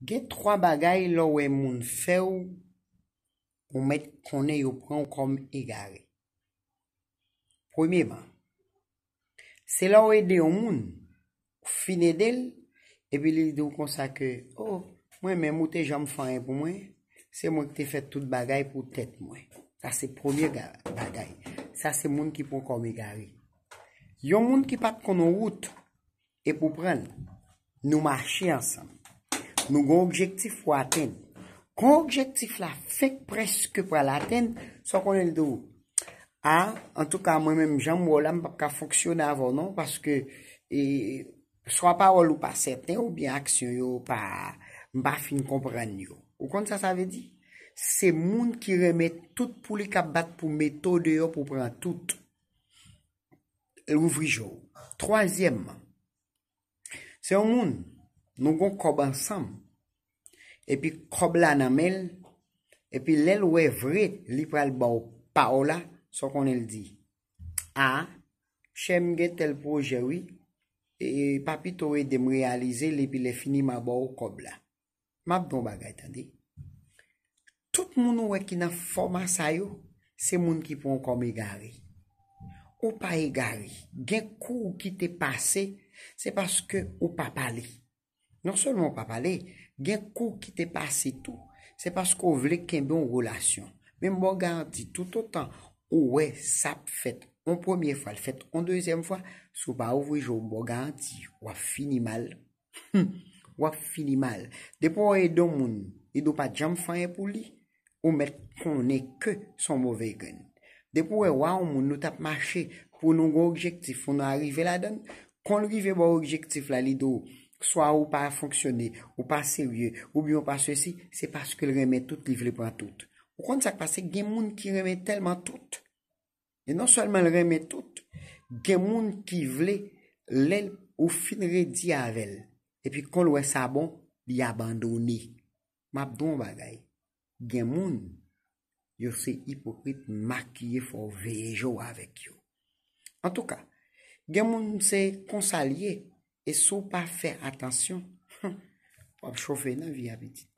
Gen 3 bagay lè w wè moun fè w ou mèt konnen yo pran w kòm egare. Premyeman, se lè w ede yon moun, ou fin ede l epi li di w konsa ke o mwen menm ou te janm fè anyen pou mwen, se mwen ki te fè tout bagay pou tèt mwen. Sa se premye bagay, sa se moun ki pran w kòm egare. Yon moun ki pa t konnen wout, e pou pran l. Nou mache ansanm. Nou gen yon objektif pou atenn. Kon objektif la fenk prèske pral atenn, sa w konnen l di w? A, antouka mwen menm jan m wè w la m pap ka fonksyone avè w non paske e swa pawòl ou pa sèten oubyen aksyon yo pa m pa fin konprann yo. Ou konn sa sa vle di? Se moun ki renmen tout pou li k ap bat pou mete w deyò pou pran tout. e louvri je w. Twazyèmman, se yon moun nou gon kòb ansanm epi kòb la nan men l epi lè l wè vre li pral ba w pa w la, sa w konnen l di? A, chè m gen tèl pwojè wi, e pa pito w ede m reyalize l epi lèfini m a ba w kòb la. Map di w yon bagay tande. Tout moun ou wè ki nan fòma sa yo, se moun ki pran w kòm egare. Ou pa egare. Gen kou ou kite pase, se paske ou pa pale. Non sèlman ou pa pale, gen kou ou kite pase tou, se paske ou vle kenbe yon relasyon. Men m ba w garanti, toutotan ou wè sa ap fèt yon premye fwa, l fèt yon dezyèm fwa, si w pa ouvri je w, m ba w garanti, w ap fini mal. Humm wap fini mal depi ou ede yon moun ede ou pa janm fè anyen pou li ou mèt konnen ke son move grenn depi ou wè wa yon moun nou tap mache pou nou gon objektif pou nou arive ladann konn rive bò objektif la li di w swa ou pa fonksyone ou pa serye oubyen ou pa sesi se paske l renmen tout li vle pran tout ou konn sak pase gen moun ki renmen tèlman tout E non sèlman l renmen tout, gen moun ki vle lè ou fin redi avè l, epi kon l wè sa bon, li abandone. M ap di w yon bagay, gen moun, yo se ipokrit makiye fò w veye je w avèk yo. Antouka, gen moun se konsa l ye, e si w pa fè atansyon, humm, w ap chofe nan vi a pitit mwen.